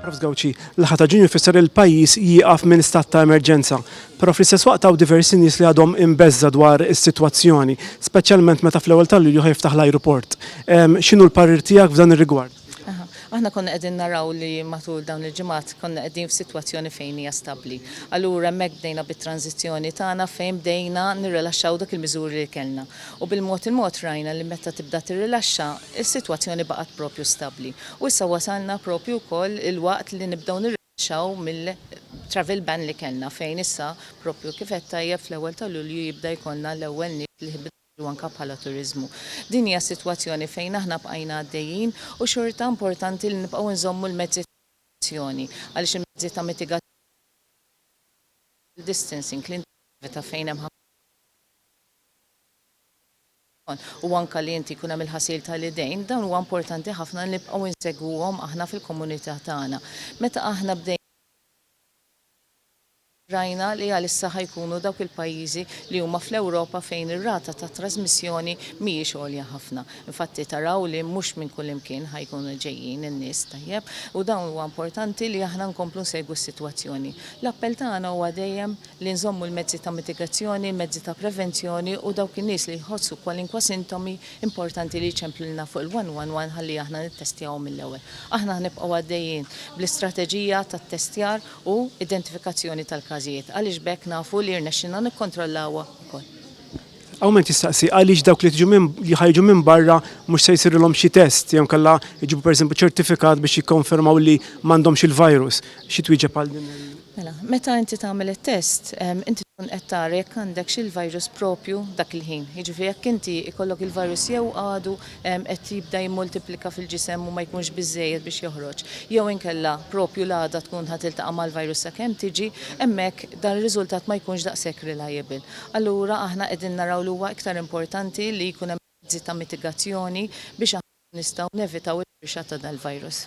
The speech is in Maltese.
Prof. Gauci, l-aħħar ta' Ġunju jfisser li l-pajjiż jieqaf minn stat ta' emerġenza. Però fl-istess waqt hawn diversi nies li għadhom imbeżża dwar is-sitwazzjoni, speċjalment meta fl-ewwel ta' Lulju ħa jiftaħ l-ajruport. X'inhu l-parir tiegħek f'dan ir-rigward? Aħna konna qegħdin naraw li matul dawn il-ġimgħat konna qegħdin f'sitwazzjoni fejn hija stabbli. Allura hemmhekk bdejna bit-tranżizzjoni tagħna fejn bdejna nirrilaxxaw dak il-miżuri li kellna. u bil-mod il-mod rajna li meta tibda tirrilaxxa, is-sitwazzjoni baqgħet proprju stabbli. U issa wasalna proprju wkoll il-waqt li nibdew nirrilaxxaw mill-travel ban li kellna fejn issa proprju kif għedt tajjeb fl-ewwel ta' Lulju jibda jkollna l-ewwel nies li jħibbu jsiru anke bħala turiżmu. Din hija s-sitwazzjoni fejn aħna bqajna għaddejjin u xorta importanti li nibqgħu nżommu l-mezzi ta' prekawzjoni għaliex il-mezzi ta' mitigazzjoni bħal social distancing, l-integrità fejn hemm ħafna nies. u anke li inti jkun hemm il-ħasil tal-idejn, dawn huwa importanti ħafna li nibqgħu insegwuhom aħna fil-komunità tagħna. Meta aħna bdejna rajna li għalissa ħa jkunu dawk il-pajjiżi li huma fl-Ewropa fejn ir-rata ta' trażmissjoni mhijiex għolja ħafna. Infatti taraw li mhux minn kullimkien ħa jkunu ġejjin in-nies, tajjeb? U dawn huwa importanti li aħna nkomplu nsegwu s-sitwazzjoni. L-appell tagħna huwa dejjem li nżommu l-mezzi ta' mitigazzjoni, il-mezzi ta' prevenzjoni u dawk in-nies li jħossu kwalinkwa sintomi, importanti li jċemplilna fuq il-111 ħalli aħna nittestjawhom mill-ewwel. Aħna ħa nibqgħu għaddejjin bl-istrateġija ta' ttestjar u identifikazzjoni tal-każijiet għaliex b'hekk nafu li rnexxilna nikkontrollawha wkoll. Hawn min qed jistaqsi għaliex dawk li ħa jiġu minn barra mhux se jsirilhom xi test jew inkella jġibu pereżempju ċertifikat biex jikkonfermaw li m'għandhomx il-virus. Xi twieġeb għal din il-. Mela, meta inti tagħmel it-test, inti tkun qed tara jekk għandekx il-virus proprju dak il-ħin. Jiġifieri jekk inti jkollok il-virus jew għadu qed jibda jimmultiplika fil-ġisem u ma jkunx biżżejjed biex joħroġ, jew inkella proprju l-għada tkun ħa tiltaqa' mal-virus sakemm tiġi, hemmhekk dan ir-riżultat ma jkunx daqshekk reliable. Allura aħna qegħdin naraw li huwa iktar importanti li jkun hemm mezzi ta' mitigazzjoni biex aħna nkunu nistgħu nevitaw il-firxa ta' dal-virus.